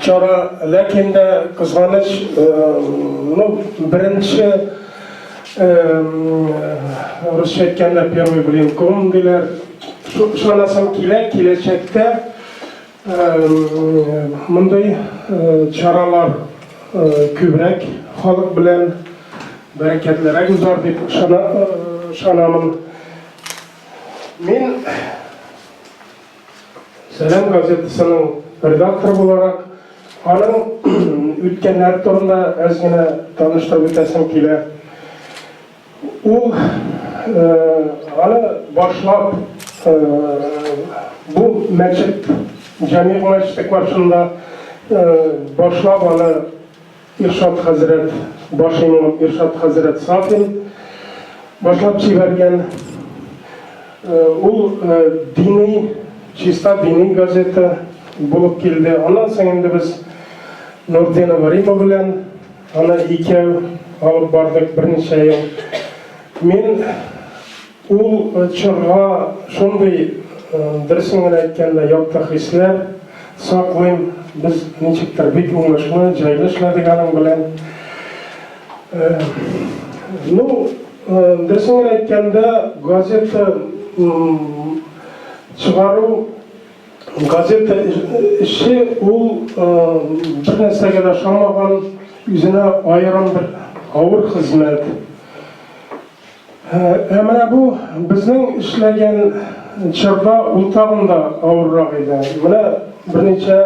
Чара, ләкин дә кызганыч, ну, беренче русча әйткәндә первый блин ком диләр. Шунасам килә, киләчәктә мондый чаралар күбрәк халык белән бәрәкәтлерәк узар дип ышанамын. Мин Сәлам газетасының редакторы буларак, аның үткәннәр турында әз генә таныштырып үтәсем килә. Ул аны башлап бу мәчет, җәмигъ мәчете каршында башлап аны Иршат хәзрәт баш имам Иршат хәзрәт Сафин башлап җибәргән ул дини, чиста дини газета булып килде. Аннан соң инде без Нурдинова Рима белән аны икәү алып бардык берничә ел. Мин Ул чорга шундый, дөресен генә әйткәндә, якты хисләр саклыйм. Без ничектер бик уңышлы, җайлы эшләдек аның белән. Ну, дөресен генә әйткәндә, газета чыгару, газета эше ул бернәрсәгә дә ошамаган, үзенә аерым бер авыр хезмәт. Ә менә бу безнең эшләгән чорда ул тагын да авыррак иде. Менә берничә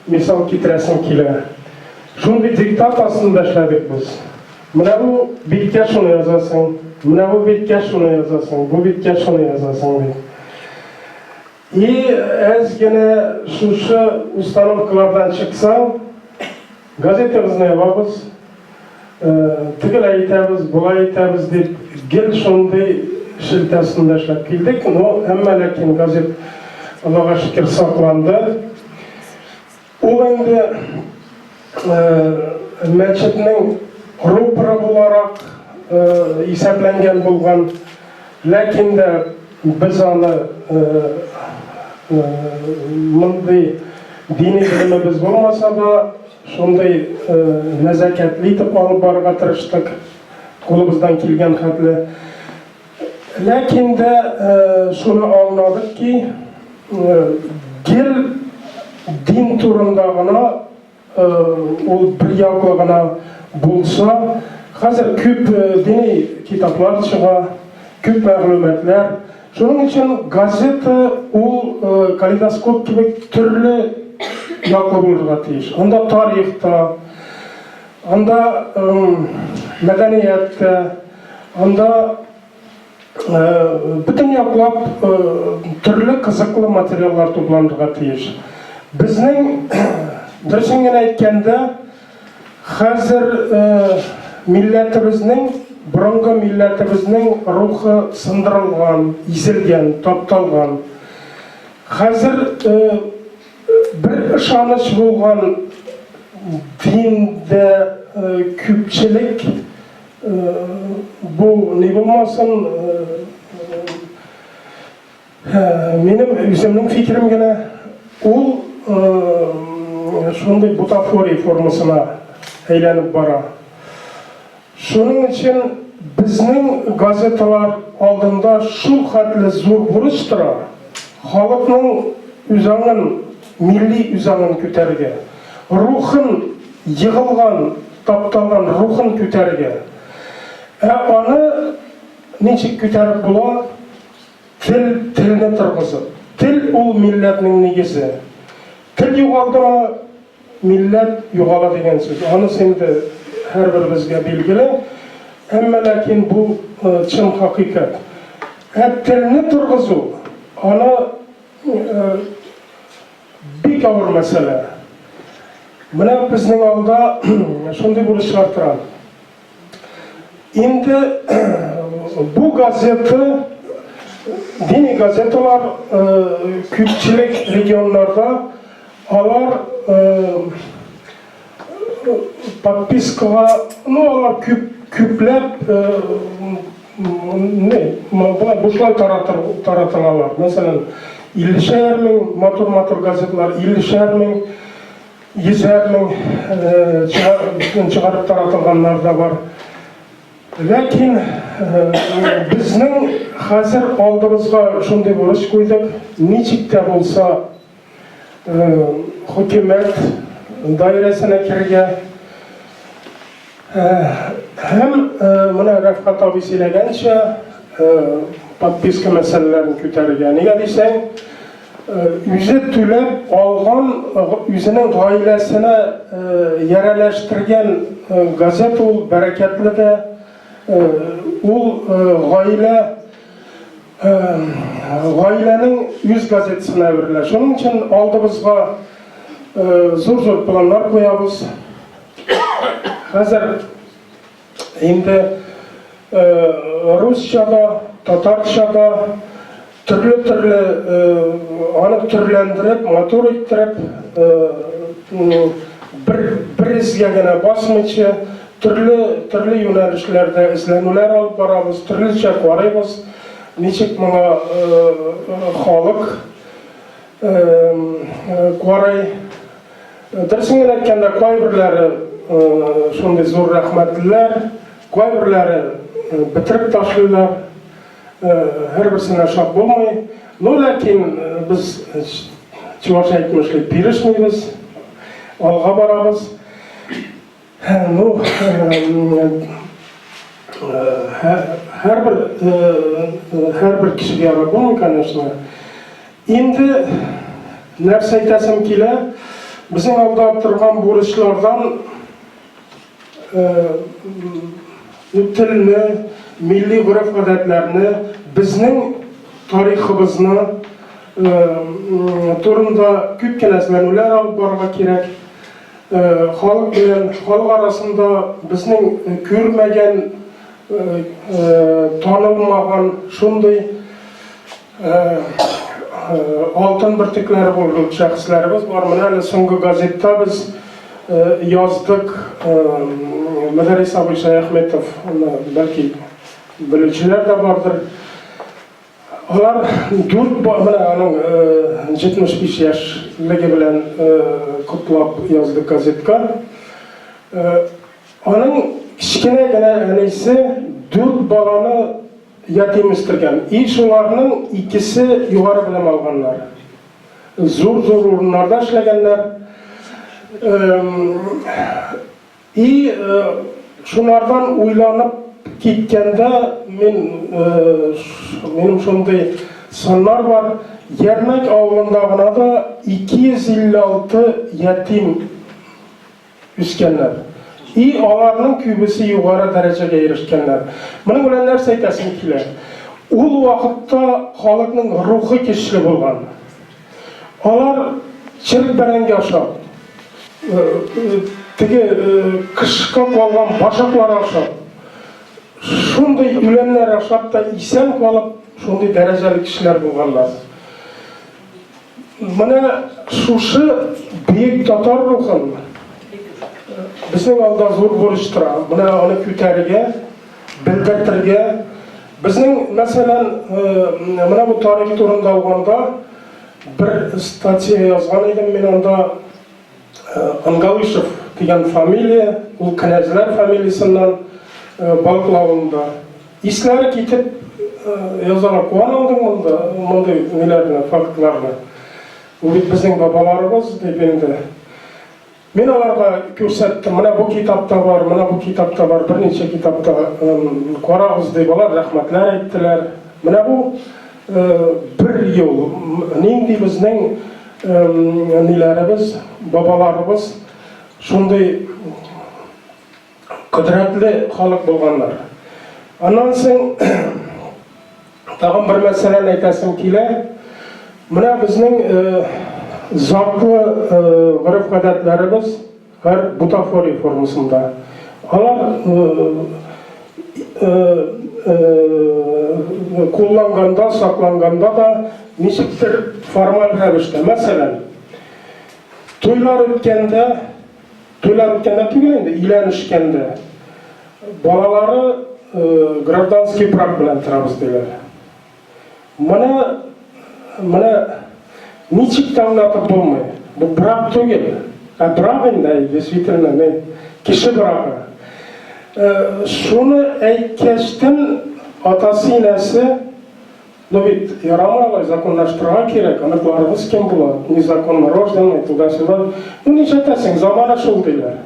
мисал китерәсем килә. Шундый диктат астында эшләдек без. Менә бу биткә шуны язасың, менә бу биткә шуны язасың, бу биткә шуны язасың, ди. Ни әз генә шушы установкалардан чыксаң, газетабызны ябабыз, тегеләй итәбез, болай итәбез дип, гел шундый шелтә астында эшләп килдек. Но, әмма ләкин газет, Аллага шөкер, сакланды. Ул инде мәчетнең рупоры буларак исәпләнгән булган, ләкин дә без аны мондый дини белемебез булмаса да, шундый нәзакәтле итеп алып барырга тырыштык, кулыбыздан килгән хәтле. Ләкин дә шуны аңладык ки, гел дин турында гына, ул берьяклы гына булса, хәзер күп дини китаплар чыга, күп мәгълүматлар. Шуның өчен газета ул калейдоскоп кебек төрле яклы булырга тиеш. Анда тарих та, Анда мәдәният тә, анда бөтен яклап төрле кызыклы материаллар тупланырга тиеш. Безнең, дөресен генә әйткәндә, хәзер милләтебезнең, борынгы милләтебезнең рухы сындырылган, изелгән, тапталган. Хәзер Бер ышаныч булган диндә күпчелек бу ни булмасын, минем үземнең фикерем генә, ул шундый бутафория формасына әйләнеп бара. Шуның өчен безнең газеталар алдында шулхәтле зур бурыч тора, халыкның үзаңын, милли үзаңын күтәрергә, рухын, егылган, тапталган рухын күтәрергә. Ә аны ничек күтәреп була? Тел, телне торгызып. Тел ул милләтнең нигезе. Тел югалдымы, милләт югала дигән сүз. Анысы инде һәрберебезгә билгеле. Әмма ләкин бу чын хакыйкать. Ә телне торгызу, аны бик авыр мәсьәлә. Менә безнең алда шундый бурычлар тора. Инде бу газета дини газеталар күпчелек регионнарда алар подпискага, ну алар күп күпләп не, була бушлай таратылалар. Мәсәлән, 50 шәһәрнең матур-матур газетлар, 50 шәһәрнең Йөзләр мең чыгарып, чыгарып таратылганнар да бар. Ләкин безнең хәзер алдыбызга шундый бурыч куйдык, ничек тә булса хөкүмәт даирәсенә керергә, Һәм менә Рәфкат абый сөйләгәнчә, подписка мәсьәләләрен күтәрергә. Нигә дисәң, үзе түләп алган үзенең гаиләсенә ярәләштергән газета ул бәрәкәтле дә. Ул гаилә гаиләнең үз газетасына әверелә. Шуның өчен алдыбызга зур-зур планнар куябыз. Хәзер инде э, русча да, татарча да төрле-төрле э, аны төрләндереп, матур иттереп, э, бер бер изгә генә басмыйча, төрле төрле юнәлешләрдә эзләнүләр алып барабыз, төрлечә карыйбыз, ничек моңа халык карый. Дөресен генә әйткәндә, кайберләре шундый зур рәхмәтлеләр, кайберләре бетереп ташлыйлар, һәрберсенә шат булмый. Ну, ләкин без чуваш әйтмешли, бирешмибез, алга барабыз. Һәрбер кешегә ярап булмый, конечно. Инде нәрсә әйтәсем килә, безнең алда торган бурычлардан телне, милли гореф-гадәтләрне, безнең тарихыбызны турында күп кенә эзләнүләр алып барырга кирәк. Халык белән халык арасында безнең күрмәгән, танылмаган шундый алтын бөртекләре булган шәхесләребез бар. Менә әле соңгы газетта без яздык Мөдәррис абый Шәяхметовны, бәлки белүчеләр дә бардыр. Алар дүрт бала, менә аның 75 яшьлеге белән котлап язды газетка. Аның кечкенә генә әнисе дүрт баланы ятим үстергән. И шуларның икесе югары белем алганнар. Зур-зур урыннарда эшләгәннәр. И шулардан уйланып киткәндә мин, минем шундый сыннар бар, Ярмәк авылында гына да 256 ятим үскәннәр. И аларның күбесе югары дәрәҗәгә ирешкәннәр. Моның белән нәрсә әйтәсем килә? Ул вакытта халыкның рухы көчле булган. Алар черек бәрәңге аша, теге кышка калган башаклар аша, шундый үләннәр ашап та исән калып, шундый дәрәҗәле кешеләр булганнар. Менә шушы бөек татар рухын безнең алда зур бурыч тора. Менә аны күтәрергә Белдертергә. Безнең, мәсәлән, менә бу тарих турында алганда, бер статья язган идем мин анда, Ангалышев дигән фамилия, ул кенәзләр фамилиясеннән балклавында. Исләре китеп язарак куанылдым монда, мондый ниләрне, фактларны. Ул бит безнең бабаларыбыз, дип инде. Мин аларга күрсәттем, менә бу китапта бар, менә бу китапта бар, берничә китапта карагыз дип, алар рәхмәтләр әйттеләр. Менә бу бер ел нинди безнең ниләребез, бабаларыбыз шундый Кодрәтле халык булганнар. Аннан соң тагын бер мәсьәләне әйтәсем килә. Менә безнең затлы гореф-гадәтләребез һәр бутафория формасында. Алар кулланганда, сакланганда да ничектер формаль рәвештә. Мәсәлән, туйлар үткәндә, Туйлар үткәндә түгел инде, өйләнешкәндә. Балалары гражданский брак белән торабыз диләр. Моны менә ничек тә аңлатып булмый. Бу брак түгел, ә брак инде, действительно, мин кеше брагы. Шуны әйткәчтен, атасы-инәсе, Ну бит, ярамый алай, законлаштырырга кирәк, оныкларыбыз кем була, незаконно рожденный, туда-сюда. Ну нишләтәсең, замана шул диләр.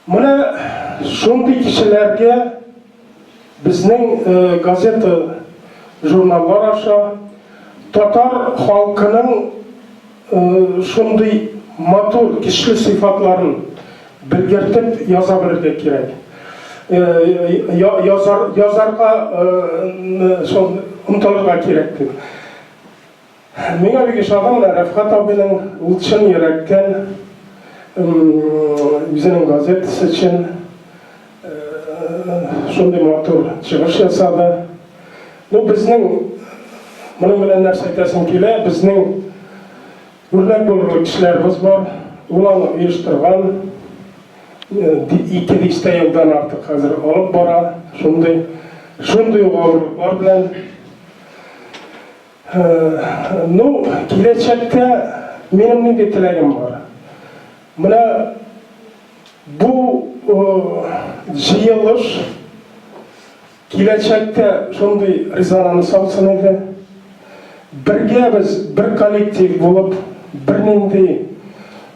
Менә шундый кешеләргә безнең э, газета, журналлар аша татар халкының Шундый матур, көчле сыйфатларын белгертеп яза белергә кирәк. Язарга шул омтылырга кирәк дип. Миңа бик ошады менә Рәфхат абыйның ул чын йөрәктән үзенең газетасы өчен Шундый матур чыгыш ясады. Ну, безнең, моның белән нәрсә әйтәсем килә, безнең үрнәк булырлык кешеләребез бар, ул аны оештырган, ике дистә елдан артык хәзер алып бара, шундый, шундый ук авырлыклар белән. Ну, киләчәктә минем нинди теләгем бар? Менә Бу җыелыш киләчәктә шундый резонанс алсын иде. Бергә без бер коллектив булып, бернинди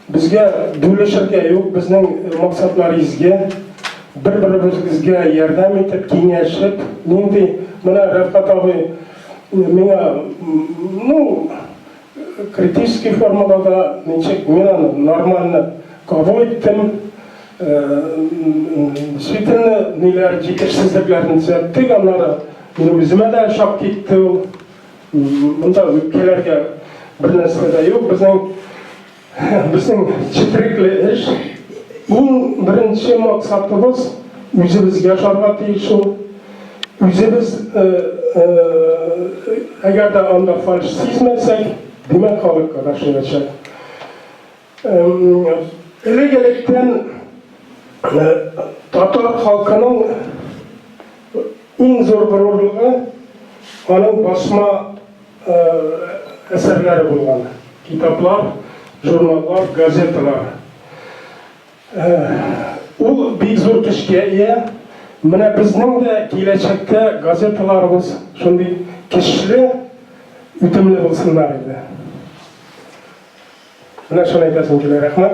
безгә бүлешергә юк, безнең максатлар изге. Бер-беребезгә ярдәм итеп, киңәшеп, нинди менә Рәфкать абый миңа, ну, Критический формада да ничек мин аны нормально кабул иттем. Действительно, ниләр җитешсезлекләрен төзәттек, аннары минем үземә дә шап китте ул. Монда үпкәләргә бер нәрсә дә юк. Безнең Безнең четерекле эш, иң беренче максатыбыз үзебез яшарга тиеш ул. Үзебез, әгәр дә анда фальш сизмәсәк, димәк халыкка да шуячак. Элек-электән татар халкының иң зур горурлыгы аның басма әсәрләре булган. Китаплар, журналлар, газеталар. Ул бик зур көчкә ия. Менә безнең дә киләчәктә газеталарыбыз шундый көчле, үтемле булсыннар иде. Менә шуны әйтәсем килә. Рәхмәт.